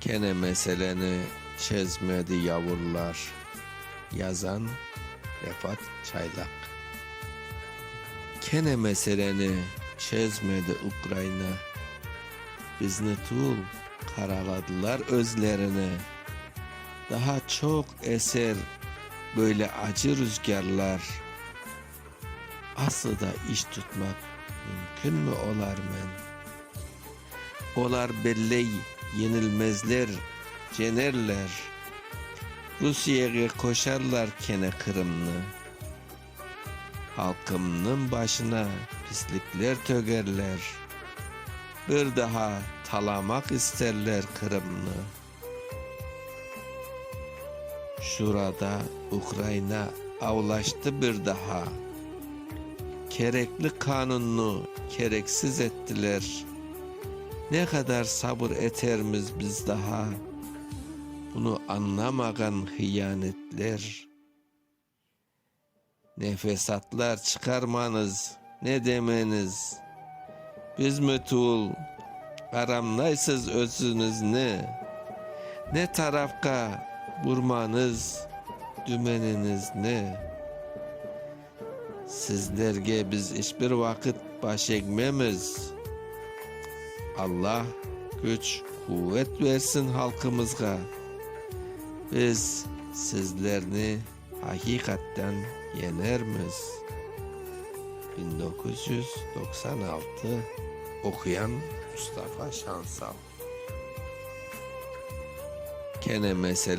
Kene meseleni çezmedi yavurlar. Yazan, Refat Çaylaq. Kene meseleni çezmedi Ukraina. Bizni tul, qaraladılar özlerini. Daha çoq eser böyle acı rüzgârlar. Aslı da iş tutmaq mümkünmi olarmen? Olar belley, yenilmezler, cenerler. Rusiyege qoşarlar kene Qırımnı. Halqımnıñ başına pislikler tögerler. Bir daha talamaq isterler Qırımnı. Şurada Ukraina avlaştı bir daha. Kerekli qanunnı kereksiz ettiler. Ne qadar sabır etermiz biz daha? Bunı añlamağan hıyanetler. Nefesatlar çıqarmañız, ne demeñiz. Biz mütüül aramlaysız özüñizni. Ne tarafqa burmañız dümeninizni. Sizlerge biz iç bir vaqıt baş egmemiz. Allah küç, quvet bersin halqımızğa. Biz. Sizlerni aqiqatten yeñermiz, bin doquz yüz doqsan altı, oquyan Mustafa Şansal. Kene mesele.